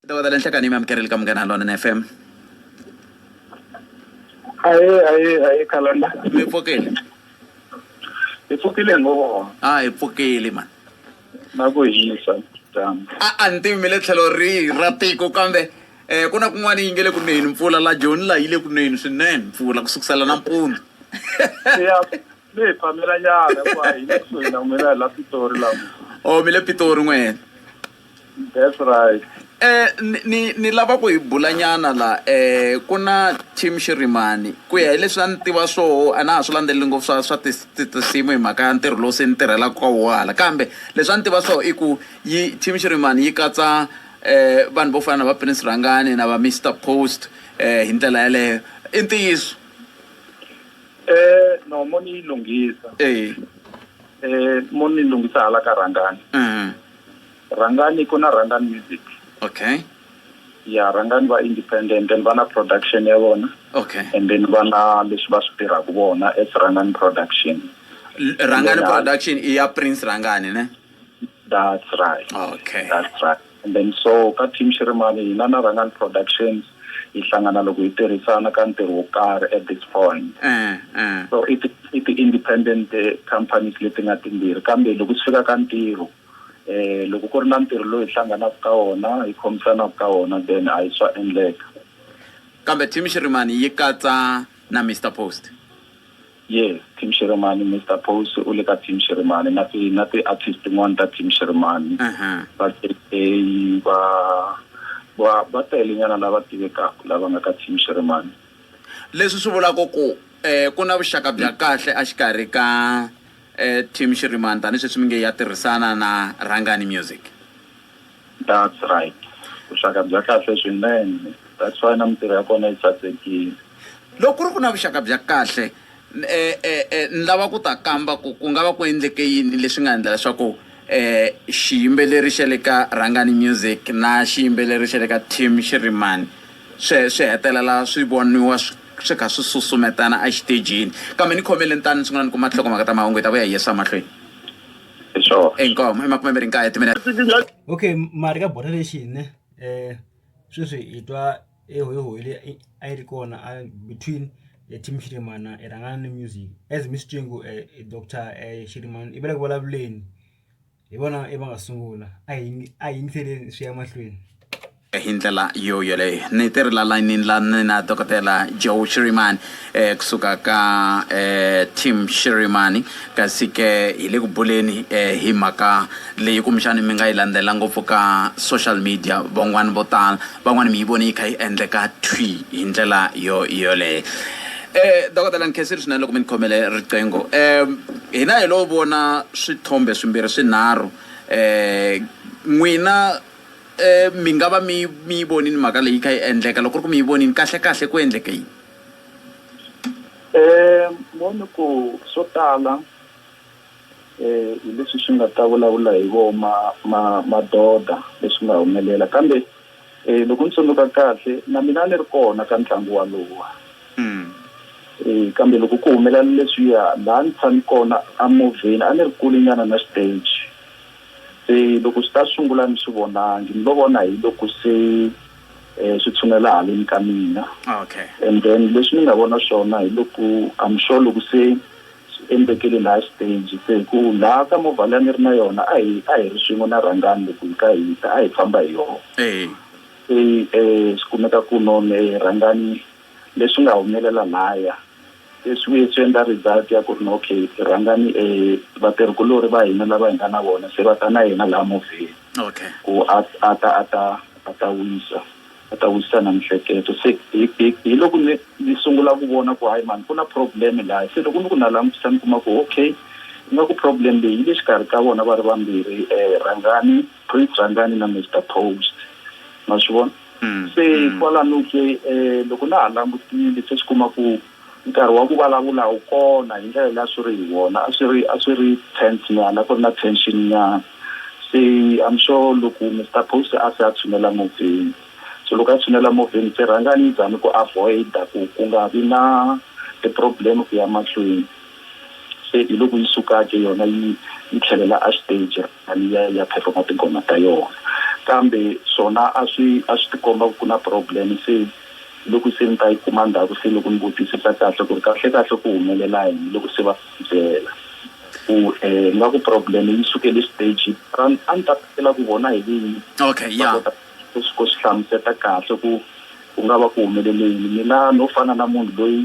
ntokoza le nhlekani yi mi amukerile ka munghana lona fm aye aye aye khalanda mi pfukile hi pfukile ngo a hi pfukile mani na ku hisa dyambu a a ni tivi mi le tlhelo rihi ra tiko kambe um ku na kun'wana yi nge le ku neni mpfula la joni la yi le ku neni swinene mpfula ku sukusela nampundzu ya mi hi phamela nyana hikuva hi le kusuhi na n'wina hi la pitori la o mi le pitori n'wena that's right eh ni ni ni lava ku hi bula nyana la eh ku na team xirimani ku ya hi leswi a ni tiva swoho a na ha swi landzeleli ngopfu swa swa tis- ti- tinsimu hi mhaka ya ntirho lowu se ni tirhelaka ka woho hala kambe leswi a ni tiva swoho i ku yi team xirimani yi katsa eh vanhu vo fana na va prince rhangani na va mr post eh hi ndlela yeleyo i ntiyiso Eh no mo ni yi lunghisa eh eh mo ni lunghisa hala ka rhangani uh-huh. rhangani ku na rhangani music okay ya rhangani va independent then va na production ya vona okay and then va na leswi va swi tirhaka vona as rhangani production rhangani production i ya prince rhangani ne That's right. Okay. That's right. And then so ka team Shirimani hina na Rangani Productions hi hlangana loko hi tirhisana ka ntirho wo karhi at this point. Eh, eh. So it it independent eh, companies leti nga timbirhi kambe loko swi fika ka ntirho eh loko ku ri na ntirho lowu hi hlanganaka ka wona hi khomisanaka ka wona then a hi swa endleka. Kambe team Shirimani yi katsa na Mr Post. Yes team Xirhemani Mister Pose u le ka team Xirhemani na ti na ti artist tin'wani ta team Xirhemani va JK va va va tele nyana lava tivekaka lava nga ka team Xirhemani. Leswi swi vulaka ku ku na vuxaka bya kahle a xikarhi ka team Xirhemani tani sweswi mi nge ya tirhisana na Rhangani Music. That's right. Vuxaka bya kahle swinene. That's why na mintirho ya kona yi sasekile. Loko ku ri ku na vuxaka bya kahle ni lava ku ta kamba ku ku nga va ku endleke yini leswi nga endla leswaku xiyimbeleri xa le ka Rhangani Music na xiyimbeleri xa le ka Team Shirimani swi swi hetelela swi voniwa swi kha swi susumetana exitejini kambe ni khomele ni tani ni sungula ni kuma nhlokomhaka ta mahungu hi ta vuya hi yisa mahlweni. hi swona inkomo i makume mbirhi nkaye timene okay mali ka bota lexi ne um sweswi hi twa ehoyihoyi leyi a yi ri kona between team xirimana i rhangana ni music as mi swi twingu um doctor um xirimana i vele ku vulavuleni hi vona i va nga sungula a hi a hi yingiseleni swi ya mahlweni hi ndlela yo yoleyo ni ti ri la layinini la ni na dokodela joe shirimani eh, kusuka ka eh, tim shirimani kasi ke hi le ku buleni eh, hi mhaka leyi kumbexani mi nga yi landzela ngopfu ka social media van'wani vo tala van'wani mi yi vone yi kha yi endleka thwi hi ndlela yo yoleyo Eh dokodela nkhesiri swinene loko mi ni khomele riqingho eh hina hi lo vona swithombe swimbirhi swinharhu eh n'wina Um mi nga va mi mi yi vonini mhaka leyi yi kha yi endleka loko ku ri ku mi yi vonini kahle kahle ku endleke yini um voni ku swo tala um hi leswi swi nga ta vulavula hi vo ma ma madoda leswi nga humelela kambe um loko ni tsundzuka kahle na mina a ni ri kona ka ntlangu walowa um kambe loko ku humelela leswiya laha ni tshami kona a movheni a ni ri kule nyana na stage Se loko swi ta sungula ni swi vonangi ni lo vona hi loko se um swi tshunela haleni ka mina okay and then leswi ni nga vona swona hi loko I'm sure loko se swi endlekele laha stage se hi ku laha ka movha leyi a ni ri na yona a hi a hi ri swin'we na rhangani loko hi ka hi ta a hi famba hi yona eyi se um swi kumeka ku none rhangani leswi nga humelela lahaya Leswi vuye swi endla result ya ku ri na okay rhangani vatirhikulori va hina lava hi nga na vona se va ta na yena laha movheni Okay. ku a a ta a ta a ta wisa a ta wisisa na mihleketo se hi hi hi loko ni ni sungula ku vona ku hayi mhani ku na problem laha se loko ni ku na langutisa ni kuma ku okay ingaku problem leyi yi le xikarhi ka vona va ri vambirhi rhangani Brig Zandani na Mister Post ma swi vona se kwalano ke loko na ha langutile se swi kuma ku nkarhi wa ku vulavula wu kona hi ndlela leyi a swi ri hi wona a swi ri a swi ri tense nyana a ku ri na tension nyana se I'm sure loko Mister Post a se a tshunela movheni so loko a tshunela movheni se rhangani yi zami ku avoid-a ku ku nga vi na ti-problem ku ya mahlweni se hi loko yi suka ke yona yi yi tlhelela a xiteji. A yi ya yi ya perform-a tinghoma ta yona. Kambe swona a swi a swi tikomba ku ku na problem se loko se ni ta yi kuma ndzhaku se loko ni vutisisa kahle ku ri kahle kahle ku humelela yini loko se va byela ku nga ku problem yi sukele stage a ni a ni ta tsakela ku vona hi vinyi Okay, va ya. kota ku swi ku swi hlamuseta kahle ku ku nga va ku humelele yini mina no fana na munhu loyi.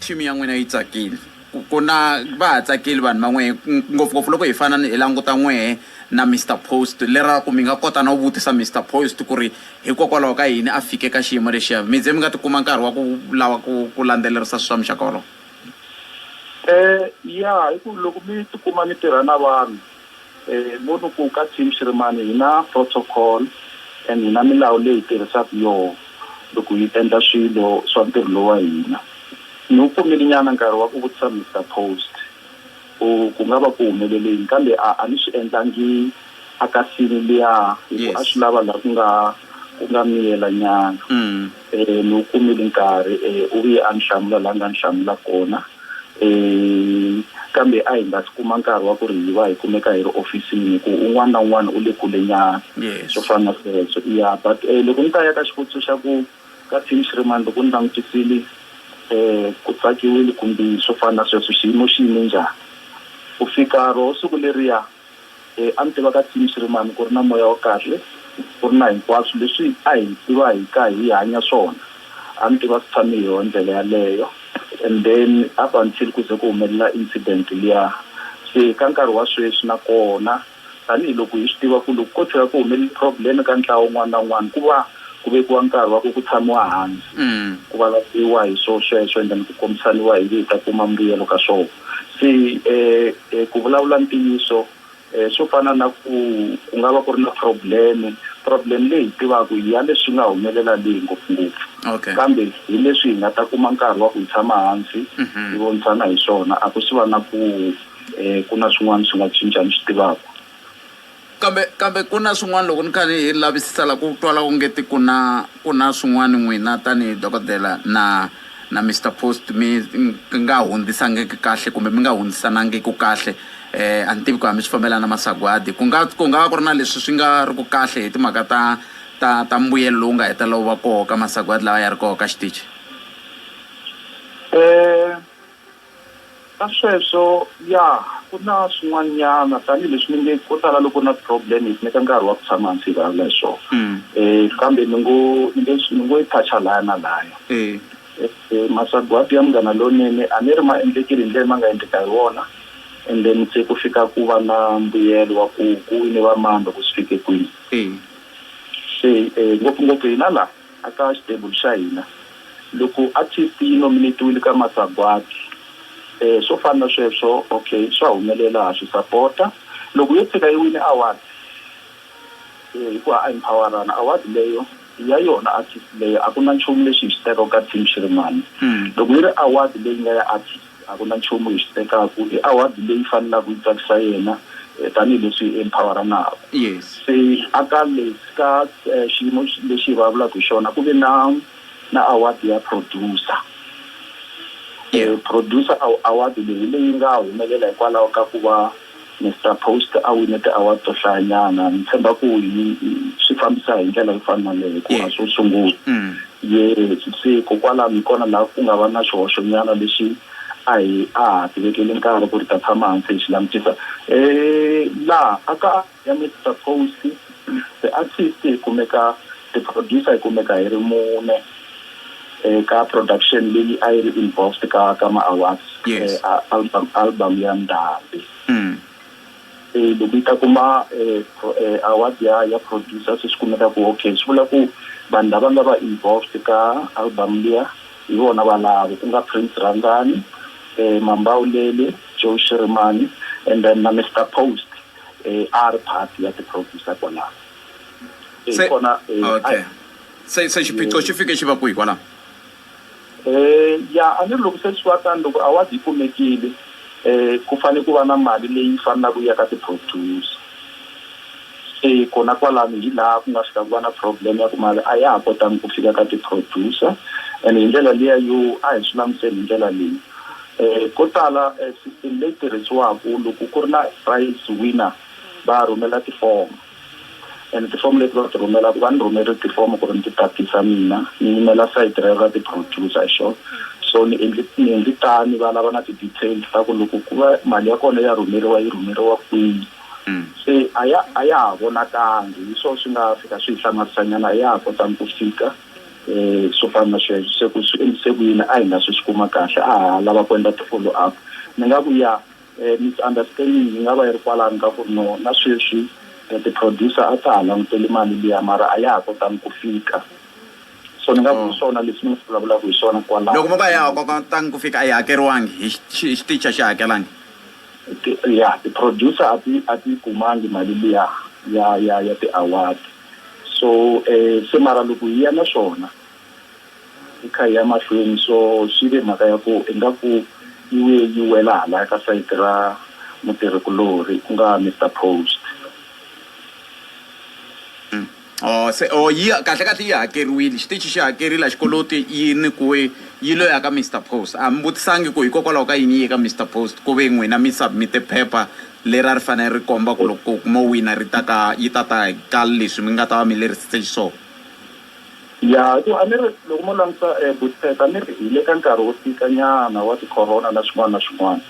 Thimi ya n'wina yi tsakile ku ku na va ha tsakile vanhu va n'wehe ngopfungopfu loko hi fana hi languta n'wehe na Mister Post lera ku mi nga kota no vutisa Mister Post ku ri hikokwalaho ka yini a fike ka xiyimo lexiya mi ze mi nga ti kuma nkarhi wa ku lava ku ku landzelerisa swi swa muxaka wolowo? Yah hi ku loko mi ti kuma mi tirha na vanhu. Hi ngo ni ku ka team Shirimani hi na protocol and hi na milawu leyi hi tirhisaka yoho loko hi endla swilo swa ntirho lowu wa hina. Ni wu kumile nyana nkarhi wa ku vutisa Mister Post ku ku nga va ku humelele yini kambe a a ni swi endlangi a ka scene liya hi ku a swi lava laha ku nga ku nga miyela nyana. E, ni wu kumile nkarhi. E, u vuye a ni hlamula laha ni nga ni hlamula kona. E, kambe a hi nga si kuma nkarhi wa ku ri hi va hi kumeka hi ri ofisini hi ku un'wana na un'wana u le kulenyana, Yes. swo fana na sweswo. Ya, but e, loko ni ta ya ka xivutiso xa ku ka team Shiremani loko ni langutisile e, ku tsakiwile kumbe swo fana na sweswo, xiyimo xi yime njhani? Ku fika roho siku leriya E, a ni tiva ka Tim Siriman ku ri na moya wa kahle, ku ri na hinkwaswo leswi a hi tiva hi ka hi hanya swona. A ni tiva swi tshame hi yoho ndlela yaleyo. And then up until ku ze ku humelela incident liya. Se ka nkarhi wa sweswi na kona tanihi loko hi swi tiva ku loko ko tshuka ku humelele problem ka ntlawa wun'wana na wun'wana ku va ku vekiwa nkarhi wa ku ku tshamiwa hansi ku vulavuriwa hi swo sweswo and then ku kombisaniwa hi ngi hi ta kuma mbuyelo ka swona. se ku vulavula ntiyiso swo fana na ku ku nga va ku ri na problem problem leyi hi tivaka hi ya leswi nga humelela le ngopfungopfu okay kambe hi leswi hi nga ta kuma nkarhi wa ku hi tshama hansi hi vonisana hi swona a ku swi va na ku um ku na swin'wana swi nga cinca ni swi tivaka Kambe, kambe ku na swin'wana, loko ni kha ni hi lavisisa la, ku twala ongeti ku na, ku na swin'wana n'wina tanihi dokodela na, na Mister Post mi nga hundzisangiki kahle kumbe mi nga hundzisanangiku kahle. E, a ni tivi ku a mi swi fambelana na masagwadi. Ku nga, ku nga va ku ri na leswi swi nga ri ku kahle hi timhaka ta, ta, ta mbuyelo lowu nga hetelela wu va koho ka masagwadi lawa ya ri koho ka xitichi? E. Ka sweswo, ya, ku na swin'wanyana, tanihi leswi ni nge, ko tala loko u ri na problem yi ku nyika nkarhi wa ku tshama hansi hi vulavula hi swona. Kambe ni ngo, ni nge swi, ni ngo yi touch-a lahaya na lahaya. Masagwadi ya Munghana Lonene a ni ri ma endlekile hi ndlela leyi ma nga endleka hi wona, and then se ku fika ku va na mbuyelo wa ku ku wine va mani loko swi fike kwini. Se ngopfungopfu hina laha, A ka xitebulu xa hina. Loko artist yi nominetiwile ka masagwadi e swo fana na sweswo ok swa humelela ha swi sapota. Loko yo tshika yi wine award e hi ku ha empowerana award leyo i ya yona artist leyo a ku na nchumu lexi hi xi tekaka team xi ri mani loko yi ri award leyi nga ya artist A ku na nchumu hi xi tekaka. I award leyi fanelaka yi tsakisa yena tanihi leswi hi emphawaranaka. Se a ka leswi ka xiyimo lexi hi vulavulaka hi xona ku ve na na award ya producer. Producer award leyi hi leyi nga humelela hikwalaho ka ku va. Mister Post a wine ti-award to hlayanyana ni tshemba ku hi swi fambisa hi ndlela yo fana na leyi ku a swo sungula yes se ko kwalano hi kona laha ku nga va na xihoxo nyana lexi a hi a ha ti vekeli nkarhi ku ri ta tshama hansi hi xi langutisa laha a ka ya Mister Post ti-artist hi kumeka ti-producer hi kumeka hi ri mune. eh, ka production leyi a yi ri involved ka ka ma awards Yes. eh, a- album album ya ndhambi Mm. eh, loko yi ta kuma eh, pro- eh, award ya ya producer se swi kumeka ku okay swi vula ku vanhu lava nga va involved ka album liya hi vona valavo ku nga prince randani eh, mambawulele joe shirimani and then na mr post eh, a ri part ya ti-producer kwalaho Eh, Se- kona eh, okay. a- Se, se xiphiqo xi fike xi va kwihi kwalaho? E, ya, a ni ri, loko se swi va tano, loko award yi kumekile, e, ku fanele ku va na mali leyi fanelaka yi ya ka ti-producer. Se kona kwalano hi laha ku nga fika ku va na problem ya ku mali a ya ha kotangi ku fika ka ti-producer. Ene hi ndlela liya yo, a hi swi languteni hi ndlela leyi, e, ko tala e system leyi tirhisiwaka loko ku ri na prize winner va rhumela tifomo. And tifomu leti va ti rhumelaku va ni rhumele tifomu ku ri ni ti tatisa mina ni yimela sayiti rero ra ti-producer hi xona so ni endli ni endli tani va lava na ti-details ta ku loko ku va mali ya kona ya rhumeriwa yi rhumeriwa kwini se a ya a ya ha vonakangi hi swo swi nga fika swi hi hlamarisanyana a ya ha kotangi ku fika um swo fana na sweswo se ku swi endlise ku yini a hi nga se swi kuma kahle a ha lava ku endla ti-follow up ni nga ku ya E, misunderstanding yi nga va yi ri kwalano ka ku ri no na sweswi e, ti-producer a ta ha languteli mali liya mara a ya ha kotangi ku fika so ni nga ku hi mm. swona leswi ni nga vulavulaka hi swona kwalaho loko mo ka ya ha kotangi ku fika a yi hakeriwangi hi xitichi a xi hakelangi ya ti-producer a ti a ti kumangi mali liya ya ya ya ti-award so um se mara loko hi ya na swona Hi kha hi ya mahlweni, so swi ve mhaka ya ku ingaku yi vuye yi wela halaya ka sayiti ra mutirhikulorhi ku nga Mister Post. Oh, se oh yi kahle kahle yi hakeriwile xitichi xi hakerile a xi koloti yi nyikiwe yi lo ya ka Mister Post a mi vutisangi ku hikokwalaho ka yini yi ye ka Mister Post ku ve n'wina mi submit-e phepha leri a ri fanele ri komba ku loko mo wina ri ta ka yi ta ta ka leswi mi nga ta va mi lerisitse xiswona. Ya hi ku a ni ri loko mo langutisa um eh, Butpet a ni ri hi le ka nkarhi wo tika nyana wa ticorona na swin'wana na swin'wana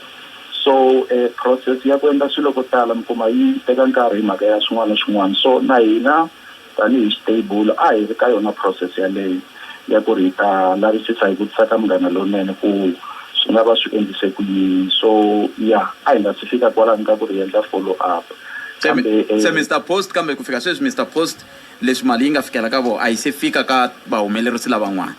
so um process ya ku endla swilo ko tala mi kuma yi teka nkarhi hi mhaka ya swin'wana na swin'wana so na hina tanihi xitable a hi ri ka yona process yaleyo ya ku ri hi ta lavisisa hi vutisa ka munghana lonene ku swi nga va swi endlise ku yini so ya a hi nga si fika kwalani ka ku ri endla follow up kambe um se eh, mr post kambe ku fika sweswi mr post Leswi mali yi nga fikela ka vona a yi se fika ka vahumelerisi lavan'wana.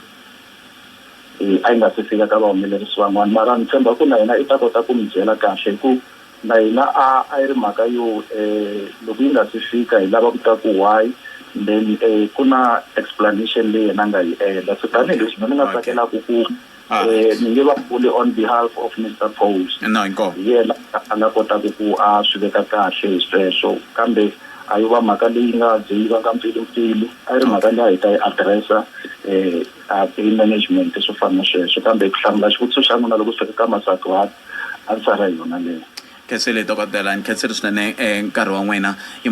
E, a yi nga se fika ka vahumelerisi van'wana, mara ni tshemba ku na yena i ta kota ku mi byela kahle hi ku na hina a a yi ri mhaka yo e, loko yi nga si fika hi lava ku tiva ku why then e, ku na explanation leyi yena a nga yi endla. Se tanihi leswi mina ni nga tsakelaku ku Alright. Eh, ni nge va vuli on behalf of Mister Post. No, inkomu. Hi yena a nga kotaka ku a swi veka kahle hi sweswo, kambe a yi va mhaka leyi nga ze yi vanga mpfilumpfilu. A yi ri mhaka leyi a hi ta yi address-a eh, a hi management swo fana na sweswo, kambe ku hlamula xivutiso xa n'wina loko swi fika ka Masagwadi, answer-a hi yona leyo. Khensile dokodela, ni khensile swinene eh, nkarhi wa n'wina. I ma.